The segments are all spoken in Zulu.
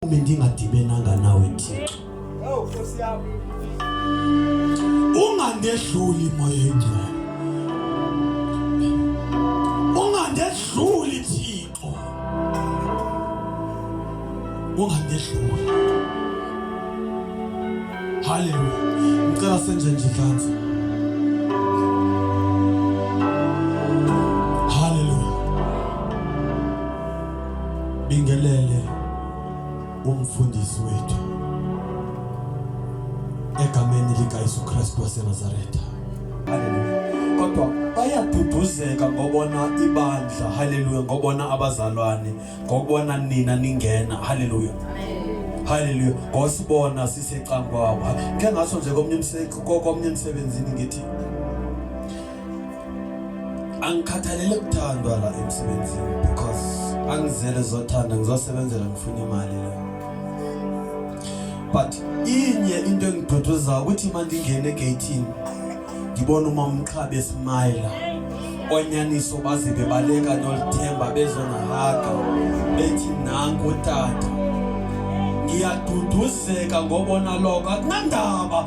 Uma ngingadibenanga nawe Thixo. Hawu oh, Nkosi yami. Ungandehluli moya engcwele. Ungandehluli Thixo. Ungandehluli. Hallelujah. Ngicela senze nje kanzi. Bingelele umfundisi wethu egameni likaYesu Kristu waseNazaretha. Haleluya. Kodwa bayaduduzeka ngobona ibandla. Haleluya. Ngobona abazalwane, ngobona nina ningena. Haleluya. Haleluya. Ngosibona sisecankwabo. Ke ngaso nje komnye umsebenzi komnye umsebenzini ngithi angikhathalele kuthandwa la emsebenzini because angizele zothanda ngizosebenzela ngifuna imali la but inye into engiduduza ukuthi manje ngingene egatini ngibona uma umqhabi esimayela onyaniso baze bebaleka nolithemba bezonahaga bethi nangu tata ngiyaduduzeka ngobona lokho akunandaba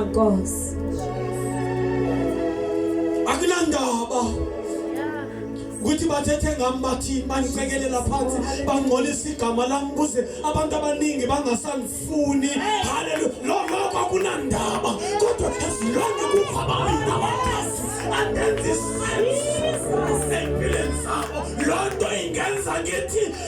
Nkosi. Akunandaba ukuthi bathethe ngami bathi bangicekelela phansi bangcolisa igama lami kuze abantu abaningi bangasangifuni haleluya lokho kwakunandaba kodwa esilonge kukho abantu abakazi andenzi sense empilweni zabo loo nto ingenza ngithi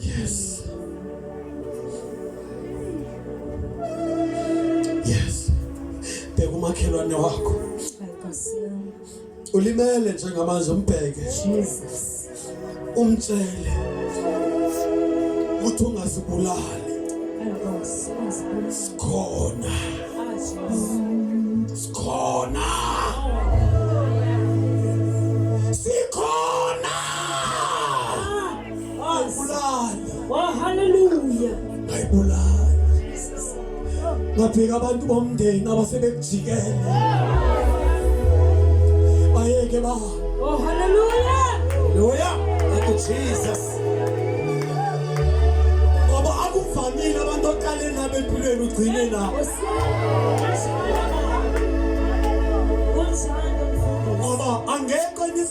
Yes. Yes. Bheka umakhelwane wakho. Ulimele njengamanje umbheke. Jesus. Umtshele. Ukuthi ungasibulali. Sikhona. Sikhona. Sikhona. Oh hallelujah. Ayibulala. Ngafika abantu bomndeni abasebekujikele. Bayeke ba. Oh hallelujah. Hallelujah. Thank you Jesus. Ngoba akuvamile abantu oqale nabo empilweni ugcine nabo. Ngoba angekho inis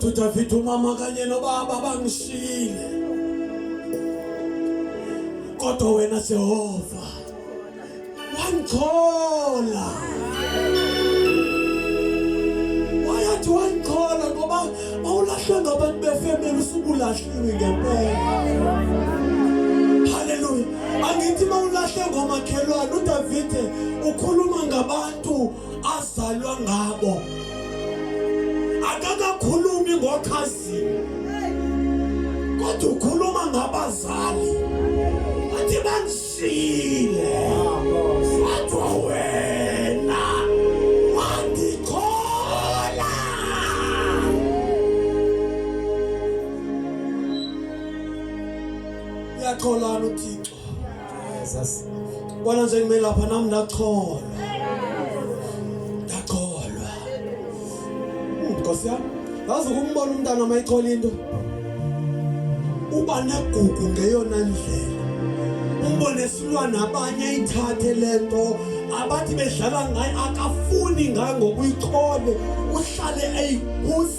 Dudavide umama kanye nobaba bangishile kodwa wena Jehova wangithola wayathi wangithola ngoba awulahlwe ngabantu befemeli usukulahliwe ngempela haleluya angithi mawulahle ngomakhelwane udavide ukhuluma ngabantu azalwa ngabo akakakhulumi ngokhazini kodwa ukhuluma ngabazali athi bangishile kodwa wena wangithola uyatholana uthixo Jesus bona nje ngime lapha nami ndacholwa ndacholwa hmm, Nkosi yami ngazi ukumbona umntana uma ichola into uba negugu ngeyona ndlela umbone silwana abanye ithathe lento abathi bedlala ngayo akafuni ngayo ngokuyichole uhlale eyibuza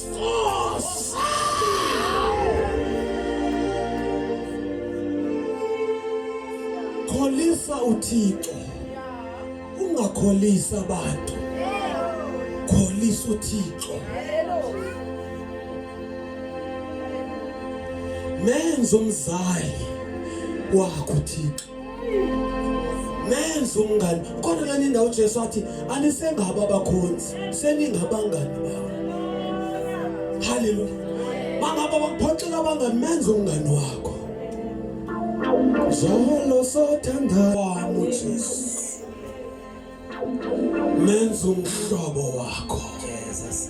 Kholisa uThixo. Ungakholisa abantu. Kholisa uThixo. Menza umzali wakho uThixo. nenza umngani kodwa lani indawo uJesu wathi anisengaba abakhonzi seningabangani bawo haleluya mangaba bakuphoxela abangani menza umngani wakho zolo sothanda wami uJesu menza umhlobo wakho Jesus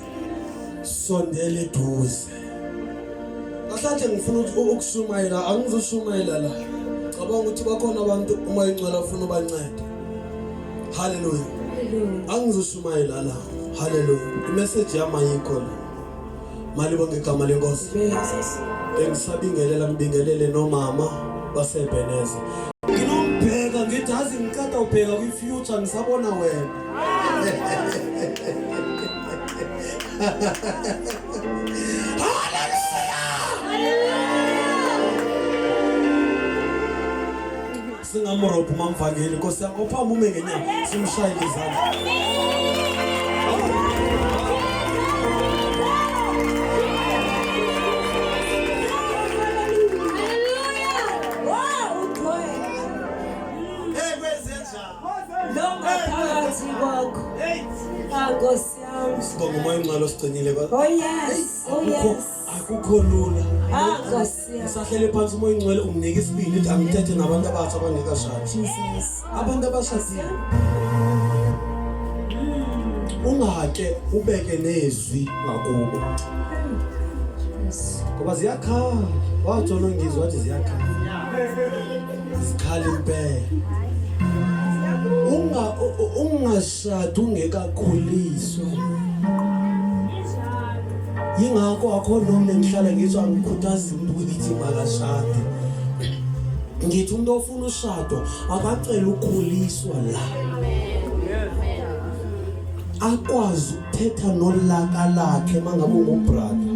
sondele eduze Ahlahle ngifuna ukuthi ukushumayela angizushumayela la cabanga ukuthi bakhona abantu uma ingcwele ufuna ubancede Hallelujah angizushumayela la Hallelujah imessage yami ayikho la malibo ngegama lenkosi engisabingelela ngibingelele nomama basebheneze nginombheka ngithi azi ngiqeda ubheka kwi-future ngisabona wena haleluya singamurobha umamvangeli nkosi yami ophamume ngenyama simshaye ngezandla Nkosi yami. Sibonga umoya omncane osigcinile. Oh yes. Oh yes. akukho lula ngisahlele ah, phansi umoya ingcwele unginike isibili ukuthi angithethe nabantu abatsha abangekashadi abantu abashadile ungake ubeke nezwi ngakubo ngoba ziyakhala watshona ngizwa wathi ziyakhala zikhale impela unga unga Shada ungekakhuliswa. Yingakho akho noma ngihlala ngizwa ngikhuthaza umuntu ukuthi makashade. Ngithi umuntu ofuna ushado akacela ukukhuliswa la. Akwazi thetha nolaka lakhe mangabe ungubrother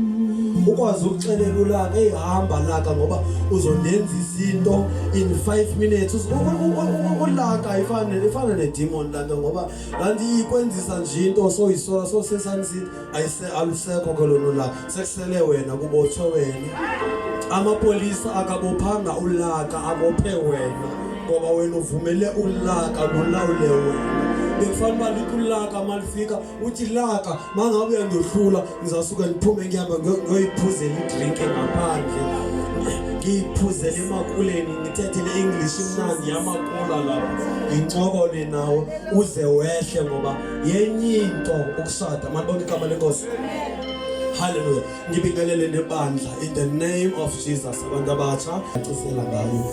ukwazi ukuxelela ulaka ehamba laka ngoba uzondenza izinto in 5 minutes ulaka ifana ifana ne demon laka ngoba kanti ikwenzisa nje into so isola so sesani sithi ayise alusekho ke lona ulaka Sehlele wena kubothwe wena. Amapolisa akabophanga ulaka abophe wena ngoba wena uvumele ulaka lulawule wena. Bekufanele uba likho ulaka malifika uthi laka mangabe uyandohlula ngizasuke ngiphume ngihamba ngoyiphuzela idrink ngaphandle. Ngiyiphuzele emakuleni ngithethele English imnandi yamakula lapha. Ngincokole nawo uze wehle ngoba yenye into ukushada malibona igama lenkosi. Hallelujah. Ngibingelele nebandla in the name of Jesus abantu abatsha acifela ngayo.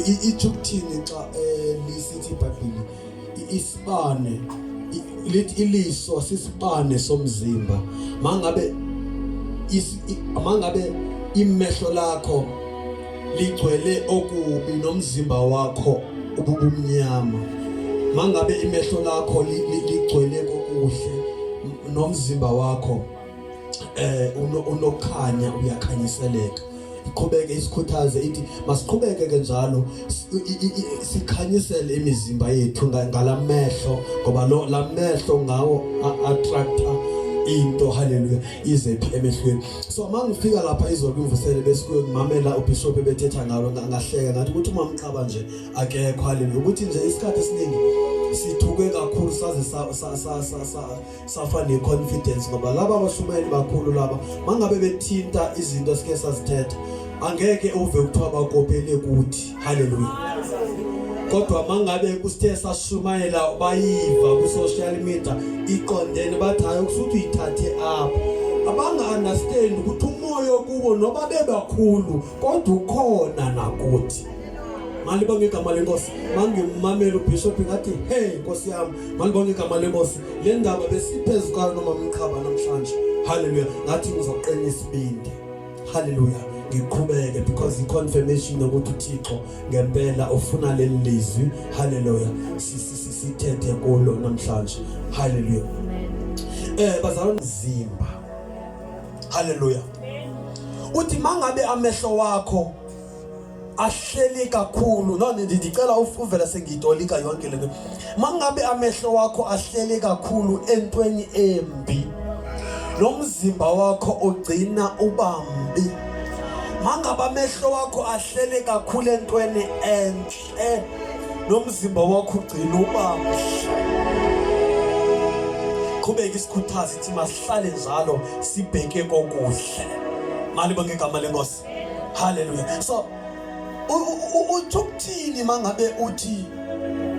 Ithi ukuthini xa eh, lisithi iBhayibheli isibane lithi iliso sisibane somzimba. Mangabe mangabe imehlo lakho ligcwele okubi nomzimba wakho ububumnyama. Mangabe imehlo lakho ligcwele kokuhle nomzimba wakho eh unokhanya uyakhanyiseleka iqhubeke isikhuthaze ithi masiqhubeke ke njalo sikhanyisele imizimba yethu ngalamehlo ngoba lo lamehlo ngawo attractor into haleluya izephi emehlweni so mangifika lapha izolo imvusele besikuyo ngimamela ubishop ebethetha ngalo ngahleka ngathi ukuthi umamqaba nje akekho haleluya ukuthi nje isikhathi esiningi sithuke kakhulu saze safa ne-confidence ngoba laba abashumayeli bakhulu laba mangabe bethinta izinto esike sazithetha angeke uve kuthiwa bakopele kuthi haleluya kodwa mangabe kusithe sashumayela bayiva ku-social media iqondene bathi hayi kusuthi uyithathe apho abanga-understand ukuthi umoya okubo noba bebakhulu kodwa ukhona nakuthi malibonge igama lenkosi mangimamela ubishop ngathi hey nkosi yami malibonge igama lenkosi le ndaba besiphezu kwayo noma mqhaba namhlanje haleluya ngathi ngizoqina isibindi haleluya ngiqhubeke because i-confirmation yokuthi uthixo ngempela ufuna leli lizwi haleluya sithethe kulo namhlanje haleluya um eh, bazalwa mzimba haleluya uthi mangabe amehlo wakho ahleli kakhulu no ndicela uvela sengiyitolika yonke lento mangabe amehlo wakho ahleli kakhulu entweni embi nomzimba wakho ugcina ubambi mangabe amehlo wakho ahlele kakhulu entweni enhle eh nomzimba wakho ugcina ubamhle qhubeka isikhuthazi ithi masihlale njalo sibheke kokuhle mali bonke igama lenkosi haleluya so uthi ukuthini mangabe uthi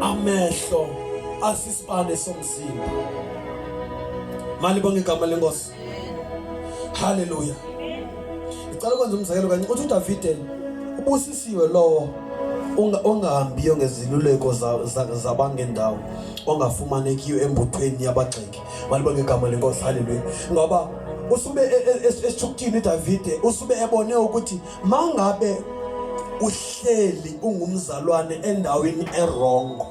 amehlo asisibane somzimba mali bonke igama lenkosi Hallelujah. Ngicela ukwenza umzekelo kanye uthi uDavide ubusisiwe lowo ongahambiyo ngeziluleko zabangendawo ongafumanekiyo embuthweni yabagxeki maliba ngegama lenkosi haleluya ngoba usube e, e, esithukuthini uDavide usube ebone ukuthi mangabe uhleli ungumzalwane endaweni erongo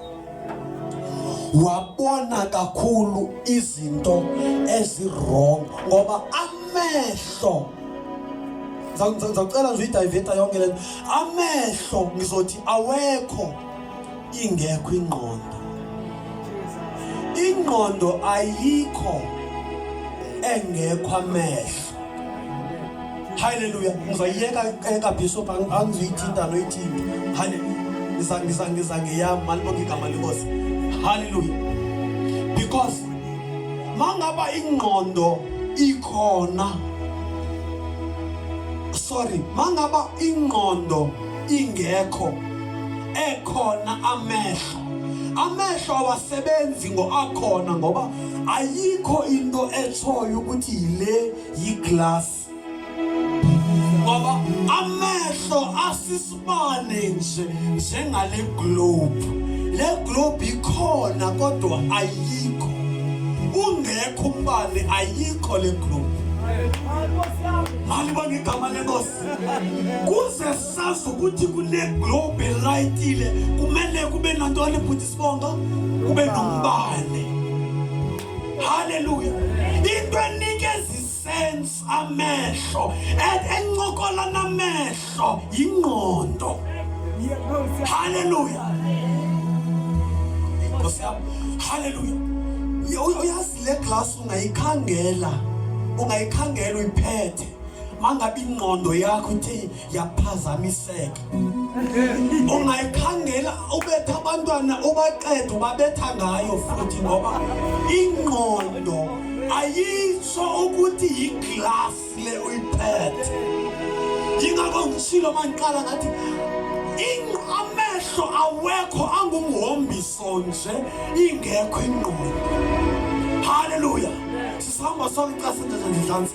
wabona kakhulu izinto ezirong ngoba amehlo ngizocela nje uyidiveta yonke lento amehlo ngizothi awekho ingekho ingqondo ingqondo ayikho engekho amehlo Hallelujah. Ngizayiyeka eka bishop angizoyithinta noyithinta. Hallelujah. Ngiza ngiza ngiza ngiyami malibonga igama lenkosi. Hallelujah. Because mangaba ingqondo ikhona sorry mangaba ingqondo ingekho ekhona amehlo amehlo awasebenzi ngoakhona ngoba ayikho into etshoyo ukuthi yile yiglass ngoba amehlo asisibane nje njengale globe le globe ikhona kodwa ayikho ungekho umbane ayikho le globe mali bangigama lenkosi kuze sazi ukuthi kule globe rightile kumele kube nantoni bhuti sibonga kube nombane haleluya into enikeza isense amehlo encokola namehlo yingqondo haleluya nkosi yam haleluya uyazi le glasi ungayikhangela ungayikhangela uyiphethe mangabe ingqondo yakho ithi yaphazamiseka ungayikhangela ubetha abantwana ubaqeda ubabetha ngayo futhi ngoba ingqondo ayisho ukuthi yiglass le uyiphethe yingakho ngishilo mangiqala ngathi amehlo awekho angumhombiso nje ingekho ingqondo haleluya sisihamba sonke xa senze nje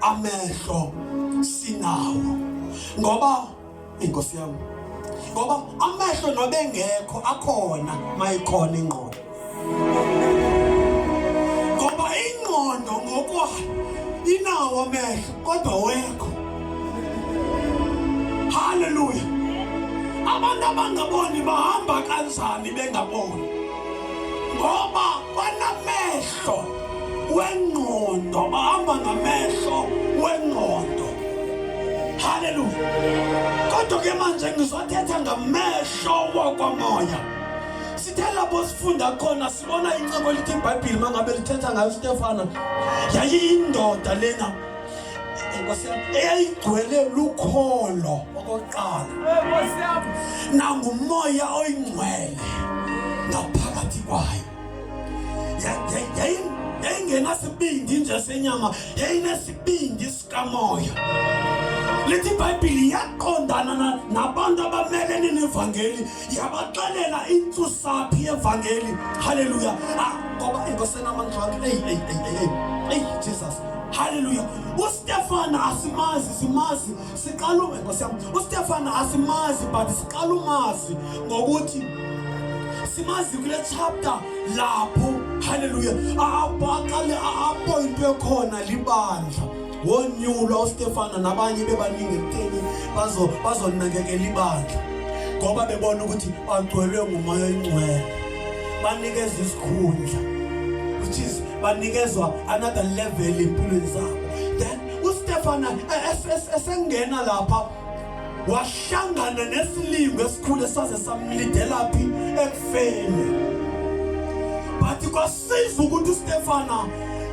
amehlo sinawo ngoba inkosi yami ngoba amehlo nobengekho akhona mayikhona ingqondo ngoba ingqondo ngokwayo inawo amehlo kodwa wekho haleluya abantu abangaboni bahamba kanjani bengaboni ngoba banamehlo wengqondo bahamba ngamehlo wengqondo haleluya kodwa ke manje ngizothetha ngamehlo wakwamoya sithe lapho sifunda khona sibona incebo elithi ibhayibhile uma ngabe lithetha ngayo ustefana yayiyindoda lena eyayigcwele lukholo okokuqala nangumoya oyingcwele ngaphakathi kwayo yayingenasibindi nje senyama yayinesibindi sikamoya lithi ibhayibhili yaqondana nabantu abamelene nevangeli yabaxelela intsusaphi yevangeli halleluya ah, ngoba ingosenamandlwane eyi eyi eyi eyi eyi jesus halleluya ustefana asimazi simazi siqala ume nkosi yami ustefana asimazi but siqala umazi ngokuthi simazi kule chapter lapho haleluya abaqale apointwe khona libandla wonyulwa ustefana nabanye bebaningi ekutheni bazonakekela ibandla ngoba bebona ukuthi bagcwelwe ngumoya oyingcwele banikeza isikhundla which is banikezwa another level empilweni zabo then uStefana esengena lapha wahlangana nesilingo esikhulu esaze samlidelaphi ekufeni but kwasiza ukuthi uStefana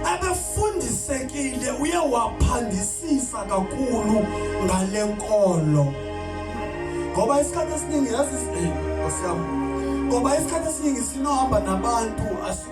abefundisekile uye waphandisisa kakhulu ngale nkolo ngoba isikhathi esiningi yazi eh, ngoba isikhathi esiningi sinohamba nabantu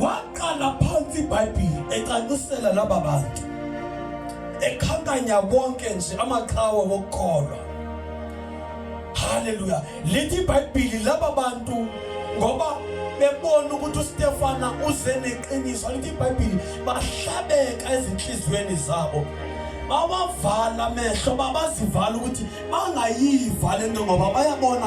waqala phansi ibhayibhili ecacisela laba bantu ekhankanya konke nje amaqhawe wokukholwa haleluya lithi ibhayibhili laba bantu ngoba bebona ukuthi uStefana uze neqiniso lithi iBhayibheli bahlabeka ezinhliziyweni zabo bawavala amehlo babazivala ukuthi bangayiva lento ngoba bayabona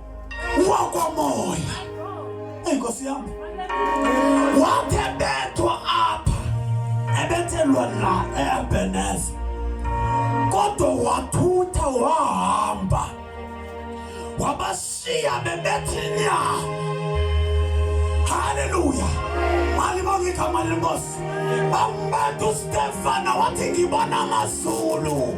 wakomoya. Inkosi yami wathe bethwa apha ebethelwa la eEbeneza, kodwa wathutha wahamba wabashiya bebethi nya. Haleluya! Malibonga igama lenkosi. Bambetha uStefana wathi ngibona amazulu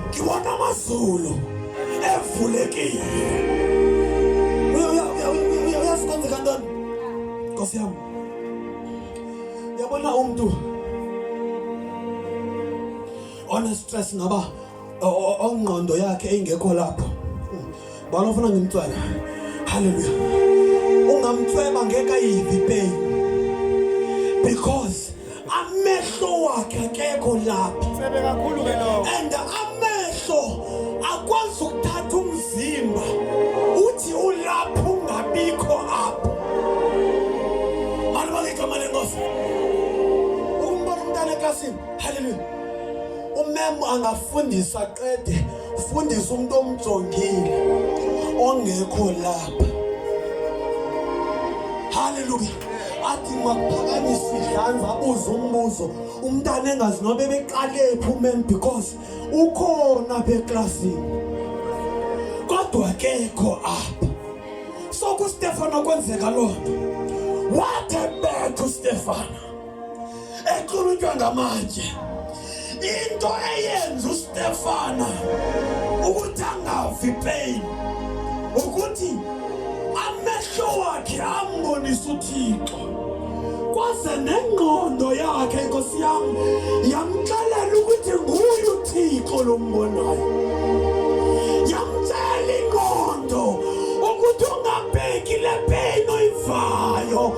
Ngiwona amazulu evulekile. Uyazi kwenzeka ntoni? Nkosi yami. Yabona umuntu one stress ngaba ongqondo yakhe ingekho lapho. Bana ufuna ngimtswele. Hallelujah. Ungamtsweba ngeke ayivi pain. Because amehlo wakhe akekho lapha. Sebe kakhulu ke lo. And amehlo akwazi ukuthatha umzimba. Uthi ulapha ungabikho apha. Manje baligama lenkosi. Umbona umntana eklasini. Hallelujah. Umem angafundisa qede fundisa umuntu omjongile ongekho lapha haleluya athi makuphakamisa idlanza abuze umbuzo umntana engazi nobe beqalephi umen because ukhona apha eklasini kodwa kekho apha so kustefano kwenzeka loo nto what a bad to stefano equlunjwa ngamanje into eyenza uStefana ukuthi angafi pain ukuthi amehlo wakhe ambonisa uThixo kwaze nengqondo yakhe inkosi yami yamxelela ukuthi nguye uThixo lombonayo yamtshela ingqondo ukuthi ungabheki le pain oyivayo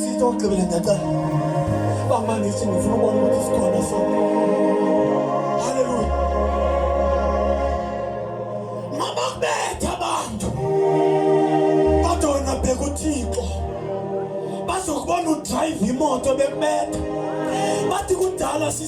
Sitokugqibela ndacela. Bamangisi ngifuna ukubona ukuthi sikhona sonke. Haleluya. Mabakubetha abantu. Kodwa wena bheka uThixo. Bazokubona udrive imoto bekubetha. Bathi kudala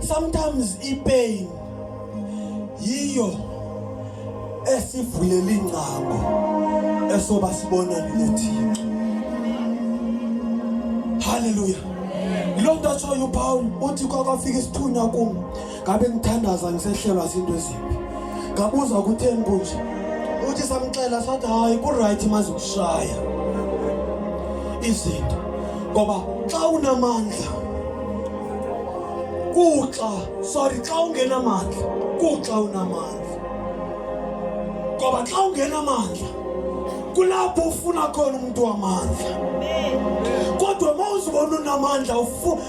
sometimes ipain yiyo esivulela ingcango esoba sibona nothixo haleluya lokho ashoyo uPaul uthi kwakwafika isithunywa kumo ngabe ngithandaza ngisehlelwa zinto ezimbi ngabuza kutheni kunje uthi samxela sathi hayi ku-right maze kushaya izinto ngoba xa unamandla kuxa sorry xa ungenamandla kuxa unamandla ngoba xa ungenamandla kulapho ufuna khona umuntu wamandla kodwa uma uzibona unamandla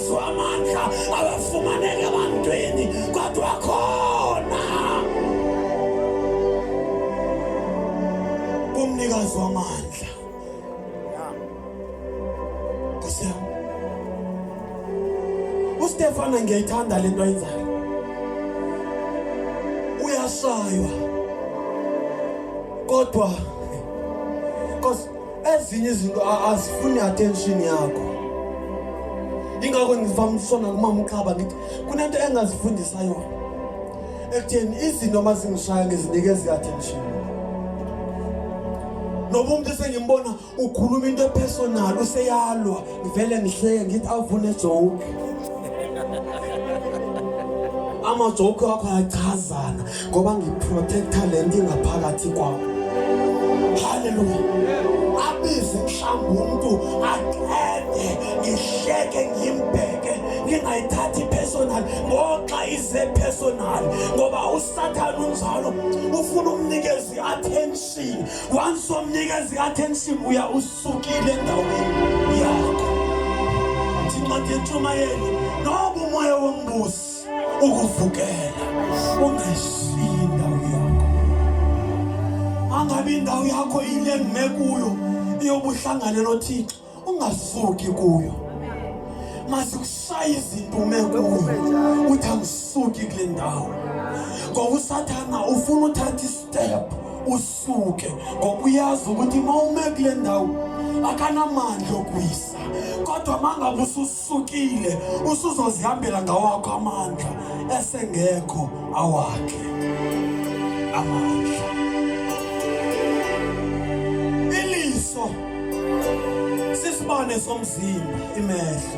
amandla abafumaneka abantwini kodwa khona umnikazi wamandla uStefana ngiyayithanda lento ayenzayo uyashaywa kodwa Cause ezinye izinto azifuni attention yakho ingakho ngivamisona kumama uqhaba ngithi kunento engazifundisa yona ekutheni izinto uma zingishaya ngizinikeza i-attention noba umuntu esengimbona ukhuluma into epersonal useyalwa ngivele ngihleke ngithi avune joke amajoke wakho ayachazana ngoba ngiprotecta le nto ingaphakathi kwakho haleluya abize mhlawumbi umntu aqede ngihleke ngimbheke ngingayithathi personal ngoxa ize personal ngoba usathane unjalo ufuna umnikezi i-attention once omnikezi i-attention uya Sukile endaweni yakho. Uthi incwadi yentshumayelo noba umoya wombusi ukuvukela ungayishiyi indawo yakho. Angabe indawo yakho yile ngime kuyo iyobuhlangane noThixo ungasuki kuyo. Masikushaya izinto ume kuyo uthi angisuki kule ndawo. Ngoba usathana ufuna uthatha istep suke ngoba uyazi ukuthi uma ume kule ndawo akanamandla okwisa kodwa uma ngabe ususukile usuzozihambela ngawakho amandla esengekho awakhe amandla iliso sisibane somzimba imehlo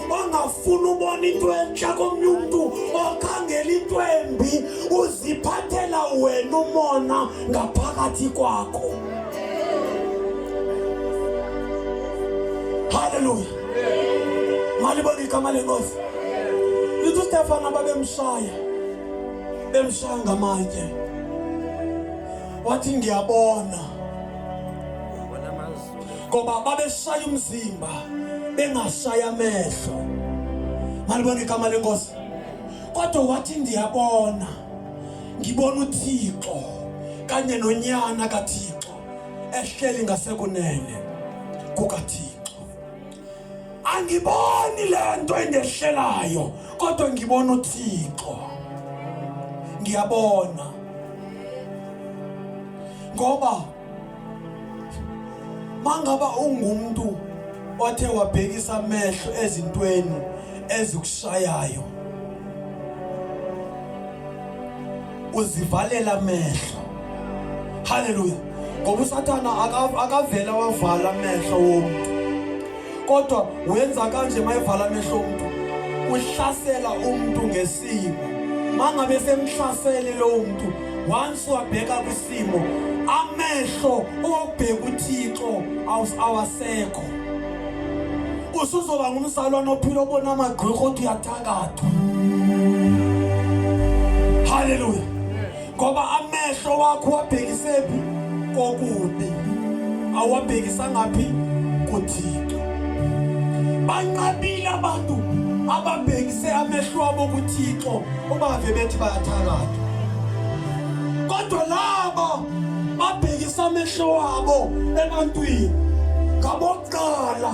ongafuni ubona into entsha komnye umntu okhangela into embi uziphathela wena umona ngaphakathi kwakho haleluya malibona igama lenkosi lithi ustefana babemshaya bemshaya ngamatye wathi ngiyabona ngoba babeshaya umzimba bengashaya amehlo malibona igama lenkosi kodwa wathi ndiyabona ngibona uThixo kanye nonyana kaThixo ehleli ngasekunene kukaThixo angiboni lento engehlelayo kodwa ngibona uThixo ngiyabona ngoba mangaba ungumuntu othe wabhekisa amehlo ezintweni ezikushayayo uzivalela amehlo haleluya ngoba usathana akavela wavala amehlo womuntu kodwa wenza kanje mayevala amehlo umuntu uhlasela umuntu ngesimo mangabe semhlasele lowo muntu once wabheka kwisimo amehlo obheka uThixo awasekho usuzoba ngumzalwane ophila obona amagqwirho othi uyathakathwa haleluya ngoba amehlo wakho wabhekisephi kokubi awabhekisangaphi kuthixo banqabile abantu ababhekise amehlo abo kuthixo ubave bethi bayathakatha kodwa laba babhekisa amehlo wabo ebantwini ngabokuqala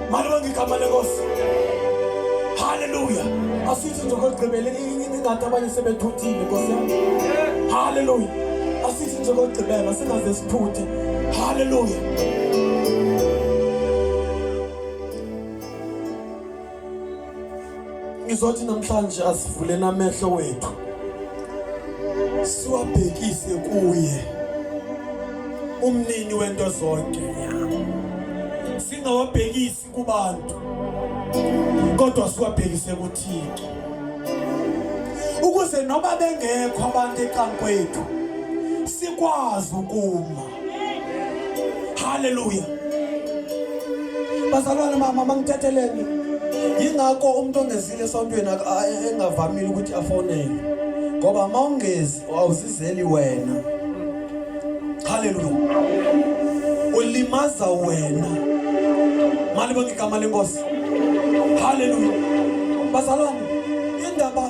Malibonga igama lenkosi. Hallelujah. Asithi nje kokugqibela ingathi abanye sebethuthile Nkosi yami. Hallelujah. Asithi nje kokugqibela singaze sithuthe. Hallelujah. ngizothi namhlanje asivuleni amehlo wethu siwabhekise kuye umnini wento zonke singawabhekisi kubantu kodwa siwabhekise kuThixo ukuze noma bengekho abantu eqankwethu sikwazi ukuma Hallelujah. Bazalwane mama mangithetheleni. Yingakho umuntu ongezile esontweni engavamile ukuthi afonele. Ngoba mawungezi awuzizeli wena. Hallelujah. Ulimaza wena. Mali bonke igama lenkosi. Hallelujah. Bazalwane indaba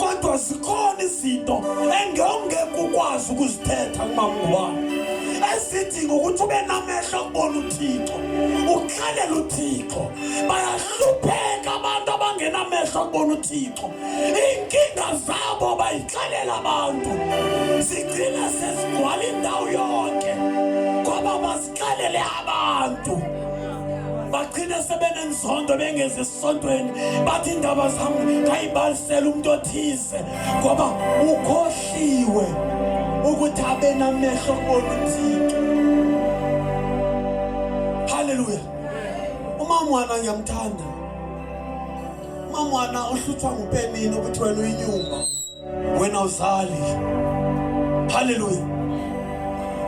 kodwa zikhona izinto engewungeke ukwazi ukuzithetha kumamngubani ezidinga ukuthi ube namehlo okubona uthixo ukhalela uthixo bayahlupheka abantu abangenamehlo okubona uthixo iinkinga zabo bayixelela abantu zigcina sezigcwala indawo yonke xelele abantu bagcine sebenenzondo bengezi esontweni bathi indaba zam ngayibalisela umuntu othize ngoba ukhohliwe ukuthi abenamehlo kubona uthixo halleluya umamwana ngiyamthanda umamwana uhlutshwa ngupenini ukuthi wena uyinyumba wena uzali haleluya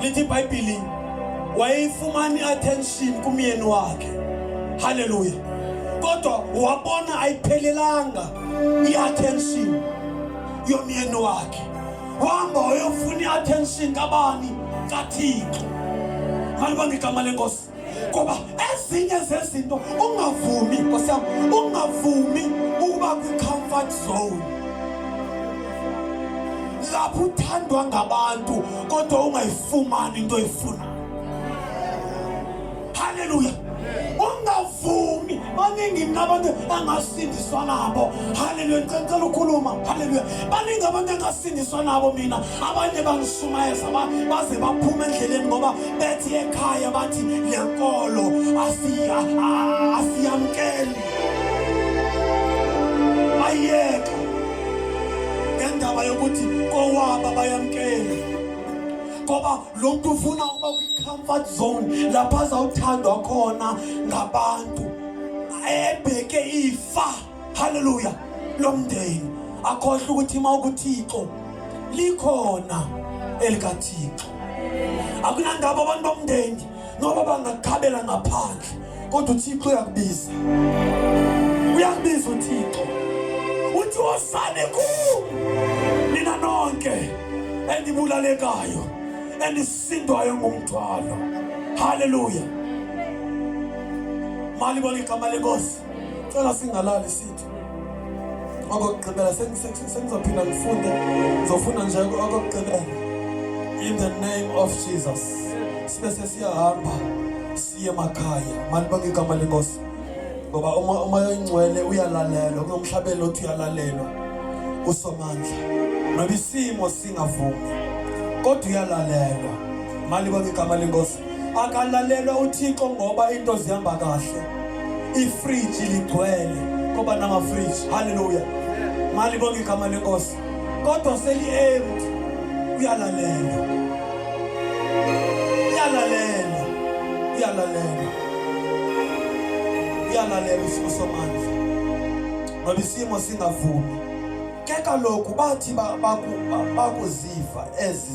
lithi ibhayibhili wayeyifumani attention kumyeni wakhe haleluya kodwa wabona ayiphelelanga i-attention yomyeni wakhe wahamba wayofuna i-attention kabani kathixo malibanga igama lenkosi ngoba ezinye zezinto ungavumi nkosi yami ungavumi ukuba kwi-comfort zone lapho uthandwa ngabantu kodwa ungayifumani into oyifunayo haleluya ungavumi baningi nabantu angasindiswa nabo haleluya ngicela ukhuluma haleluya baningi abantu angasindiswa nabo mina abanye bangishumayeza baze baphuma endleleni ngoba bethi ekhaya bathi le nkolo asiya asiyamkeli bayeka ngendaba yokuthi kowaba bayamkeli ngoba lo mntu ufuna ukuba kwi-comfort zone lapho azawuthandwa khona ngabantu ebheke ifa haleluya lomndeni akhohle ukuthi uma ukuthixo likhona elikathixo akunandaba abantu bomndeni noba bangakukhabela ngaphandle kodwa uthixo uyakubiza uyakubiza uthixo uthi wosane ku nina nonke enibulalekayo enisindwayo ngumthwalo haleluya mali bonke igama lenkosi cela singalali sithi okokugqibela sengizophinda ngifunde ngizofuna nje okokugqibela in the name of jesus sibe sesiyahamba siye emakhaya malibonke igama lenkosi ngoba uma uma yoyingcwele uyalalelwa kunomhlabelo othi uyalalelwa usomandla noba isimo singavumi kodwa uyalalelwa malibonke igama lenkosi akalalelwa uthixo ngoba into zihamba kahle ifriji ligcwele koba namafriji halleluya mali bonke igama lenkosi kodwa seli-empty uyalalela uyalalela uyalalela uyalalela isimo somandla ngoba isimo singavumi ke kaloku bathi bakuziva ezi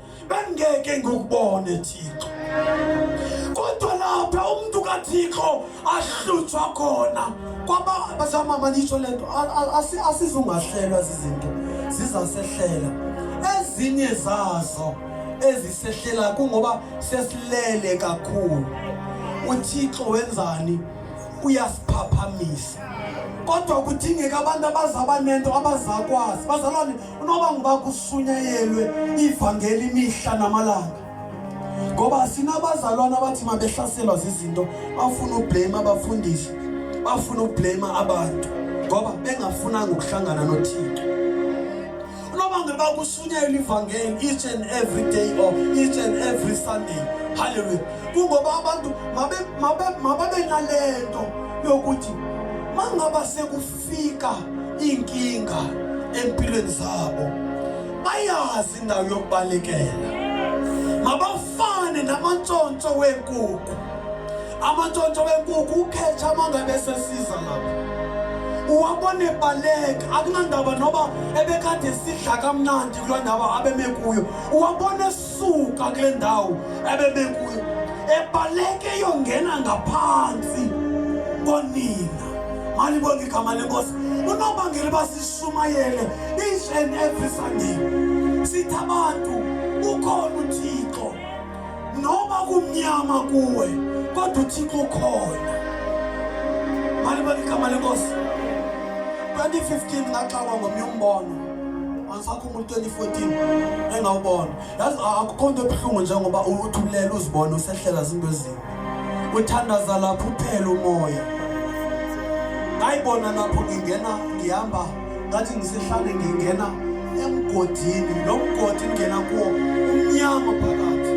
bengeke ngikubone Thixo kodwa lapha umuntu kaThixo ahlutshwa khona kwaba bazama malisho lento asizungahlelwa izinto zizasehlela ezinye zazo ezisehlela kungoba sesilele kakhulu uThixo wenzani uyasiphaphamisa kodwa kudingeka abantu abazaba nento abazakwazi bazalwane Unoba nguba kusunyayelwe ivangeli imihla namalanga ngoba sinabazalwana abathi mabehlaselwa zizinto bafuna ublame abafundisi bafuna ublame abantu ngoba bengafunanga ukuhlangana nothixo noma ngeba kusunyelwa ivangeli each and every day or each and every sunday haleluya kungoba abantu mabe mabe mababe nalento yokuthi mangaba seku fika inkinga empilweni zabo bayazi indawo yokubalekela mabafane namantshontsho wenkukhu amantshontsho wenkukhu ukhetha amangabe esesiza lapho uwabona ebaleka akunandaba noba ebekade sidla kamnandi kuloo ndawo abeme kuyo uwabona suka kule ndawo ebebekuyo ebaleke yongena ngaphansi konina malibonge igama lenkosi unobangela uba sishumayele each and every sunday sithi abantu ukhona uthixo noma kumnyama kuwe kodwa uthixo ukhona malibonge igama lenkosi 2015 ngaxakwa ngomnye umbono umuntu 2014 engawubona yazi akukho nto ebuhlungu njengoba uthulele uzibona usehlela zinto ezimbi uthandaza lapho uphela umoya ngayibona lapho ngingena ngihamba ngathi ngisehlane ngingena emgodini lo mgodi ngingena kuwo umnyama phakathi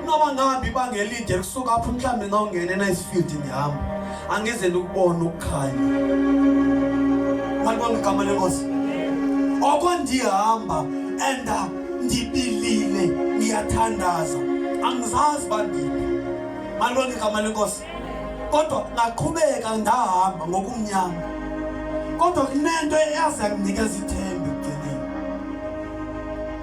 noba ngihambe ibanga elide kusuka apho mhlawumbe ngawungena enayisifield ngihamba angizele ukubona ukukhanya malibona igama lenkosi oko ndihamba and ndibilile ngiyathandaza angizazi bandiphi malibona igama lenkosi kodwa ngaqhubeka ndahamba ngokumnyama kodwa kunento eyaze yanginikeza ithemba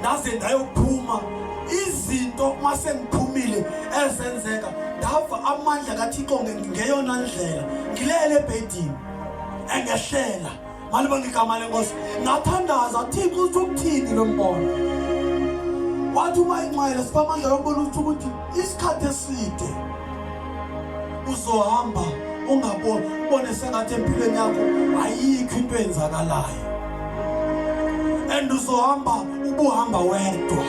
ndaze ndayophuma izinto uma sengiphumile ezenzeka ndava amandla kathixo ngeyona ndlela ngilele ebhedini engehlela malibona igama lenkosi ngathandaza thixo uthi ukuthini lo mbono wathi uma inxele siphamandla lombona ukuthi isikhathi eside uzohamba ungaboni ubone sengathi empilweni yakho ayikho into eyenzakalayo and uzohamba ubuhamba wedwa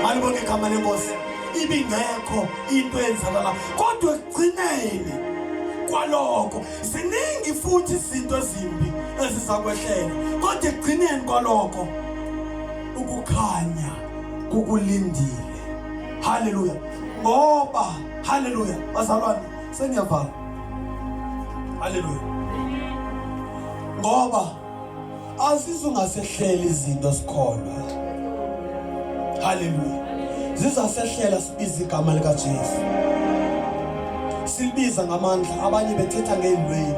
malibone igama lenkosi ibingekho into eyenzakalayo kodwa ekugcineni kwaloko ziningi futhi izinto ezimbi ezizakwehlela kodwa ekugcineni kwaloko ukukhanya kukulindile haleluya ngoba haleluya bazalwane sengiyavala haleluya ngoba azizungasehleli izinto sikholwa haleluya zizasehlela sibiza igama likaJesu silibiza ngamandla abanye bethetha ngezilweli